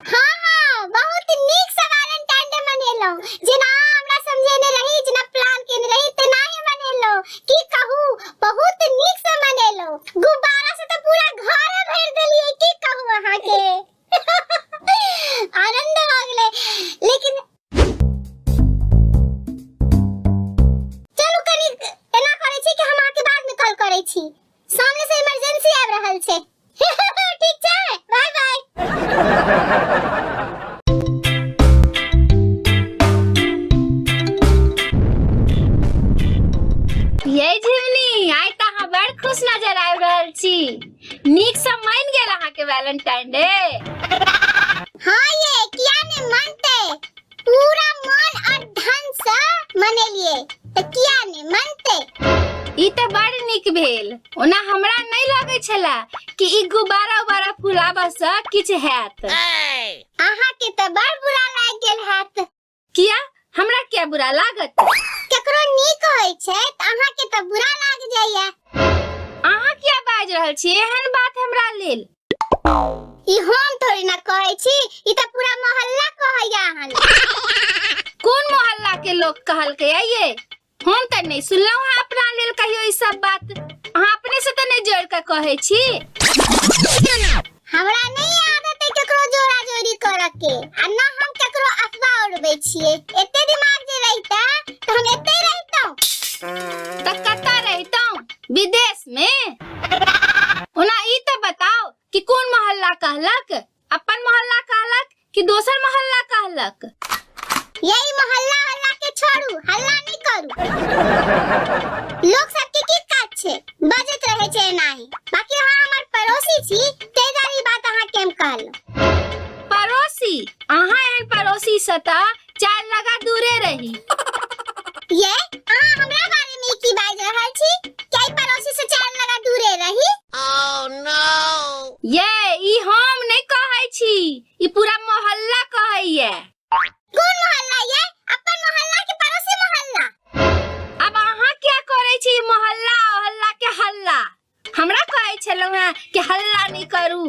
हाँ हाँ बहुत नीक सवाल एंड टाइम मनेलो जेना हमरा समझेने रही जेना प्लान केने रही तेना ही मनेलो की कहू बहुत नीक से मनेलो गुब्बारा से तो पूरा घर भर देलिए की कहू अहाँ के आनंद हो गेले लेकिन चलू कनी एना करे छी कि हम अहाँ के बाद में कॉल करे छी सामने से इमरजेंसी आबि रहल छै ठीक छै बाय बाय ये झिमनी आइ तऽ अहाँ बड़ खुश नजर आबि रहल छी नीक से मान गेल अहाँके वैलेंटाइन डे हाँ ये किया ने मानते पूरा मन और धन से मनेलिए त किया ने मनते ई त बड़ निक भेल ओना हमरा नहीं लगे छला कि ई गुब्बारा उबारा फुलाबा से किछ हैत अहा के त बड़ बुरा लाग गेल हाथ किया हमरा क्या बुरा लागत केकरो नीक होय छै त अहा के त बुरा लाग जाइया अहा क्या बाज रहल छी एहन बात हमरा लेल ई हम थोड़ी ना कहै छी ई तऽ पूरा मोहल्ला कहैया अहाँ लग। कोन मोहल्ला के लोग कहलकै है ये हम तऽ नहीं सुनलहुँ हँ अपना लेल कहियो ई सब बात अहाँ अपने से तऽ नहीं जोड़ के कहै छी हमरा नहीं आदत है केकरो जोड़ा जोड़ी करऽ के आ न हम केकरो अफवाह उड़बै छियै एते दिमाग जे रहिता तऽ हम एते रहितौं तऽ कतऽ रहितहुँ विदेश में ओना ई तऽ बताओ कि कोन मोहल्ला कहलक अपन मोहल्ला कहलक कि दोसर मोहल्ला कहलक यही मोहल्ला हल्ला के छोड़ू हल्ला नहीं करू लोग सबके की काज छे बजत रहे छे नाही बाकी हाँ हमर पड़ोसी छी ते जारी बात अहाँ केम कहलो पड़ोसी अहाँ एहन पड़ोसी से तऽ चार लगा दूरे रही ये अहाँ हमरा बारे में की बाज रहल छी कई पड़ोसी से चार लगा दूरे रही ये ई हम नहीं कहै छी ई पूरा मोहल्ला कहैया कौन मोहल्ला ये अपन मोहल्ला के पड़ोसी मोहल्ला अब अहाँ क्या करै छी ई मोहल्ला ओहल्ला के हल्ला हमरा कहै छलहुँ हेँ कि हल्ला नहि करू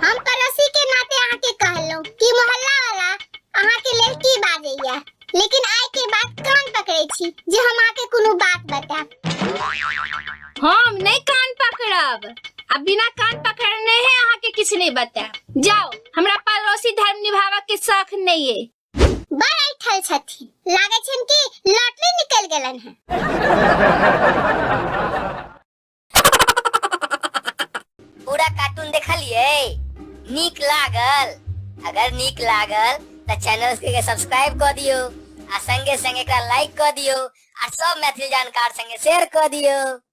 हम पड़ोसी के नाते अहाँ के कहलहुँ कि मोहल्ला वाला अहाँ के लेल की बाजैया लेकिन आइ के बाद कान पकड़े छी जे हम अहाँ के कोनो बात बताएब हम नहीं कान पकड़ब आ बिना कान पकड़ने है अहाँ के किसी नहीं बताएब जाओ हमरा पड़ोसी धर्म निभावा के शौक नहीं है बैठल छथिन लागे छन कि लॉटरी निकल गेलन है पूरा कार्टून देखलिए नीक लागल अगर नीक लागल तो चैनल के सब्सक्राइब कर दियो आ संगे संगे एकरा लाइक कर दियो आ सब मैथिली जानकार संगे शेयर कर दियो